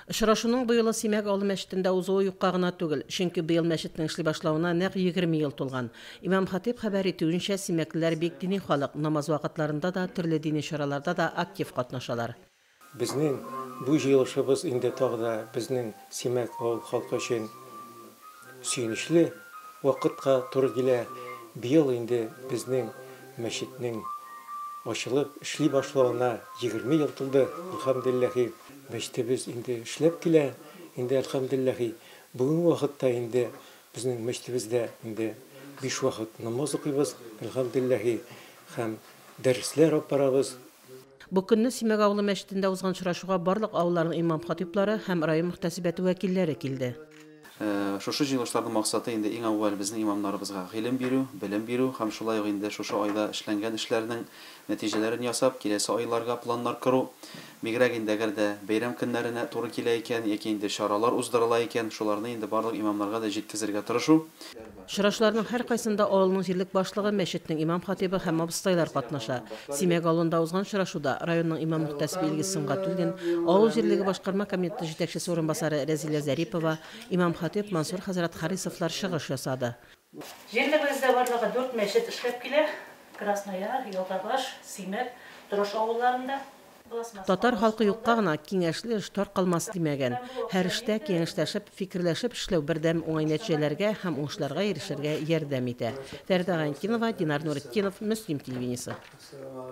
Очрашуның быелы Симәк авыл мәчетендә узуы юкка гына түгел, чөнки быел мәчетнең эшли башлавына нәкъ егерме ел тулган. Имам-хатыйб хәбәр итүенчә, симәклеләр бик дини халык, намаз вакытларында да, төрле дини чараларда да актив катнашалар. Безнең бу җыелышыбыз инде тагы да безнең Симәк авыл халкы өчен сөенечле вакытка туры килә. Быел инде безнең мәчетнең ачылып эшли башлавына егерме ел тулды, әлхәмдүлилләһи. Мәчетебез инде эшләп килә, инде әлхәмделләһи, бүгенге вакытта инде безнең мәчетебездә инде биш вакыт намаз укыйбыз, әлхәмделләһи, һәм дәресләр алып барабыз. Бу көнне Симәк авылы мәчетендә узган очрашуга барлык авылларның имам-хатыйблары һәм район мөхтәсибәте вәкилләре килде. Шушы җыелышларның максаты инде иң әүвәл безнең имамнарыбызга гыйлем бирү, белем бирү һәм шулай ук инде шушы айда эшләнгән эшләрнең нәтиҗәләрен ясап, киләсе айларга планнар кору, бигрәк инде әгәр дә бәйрәм көннәренә туры килә икән яки инде чаралар уздырыла икән, шуларны инде барлык имамнарга да җиткезергә тырышу. Очрашуларның һәркайсында авылның җирлек башлыгы, мәчетнең имам-хатыйбы һәм абыстайлар катнаша. Симәк авылында узган очрашуда районның имам-мөхтәсибе Илгиз Сөнгатуллин, авыл җирлеге башкарма комитеты җитәкчесе урынбасары Рәзилә Зарипова, имам-хатыйб Мансур хәзрәт Харисовлар чыгыш ясады. Җирлегебездә барлыгы дүрт мәчет эшләп килә, Краснояр, Елгабаш, Симәк, Торыш авылларында. Татар халкы юкка гына киңәшле эш таркалмас димәгән. Һәр эштә киңәшләшеп, фикерләшеп эшләү бердәм уңай нәтиҗәләргә һәм уңышларга ирешергә ярдәм итә. Фәридә Гайнтдинова, Динар Нуретдинов, Мөслим телевидениесе.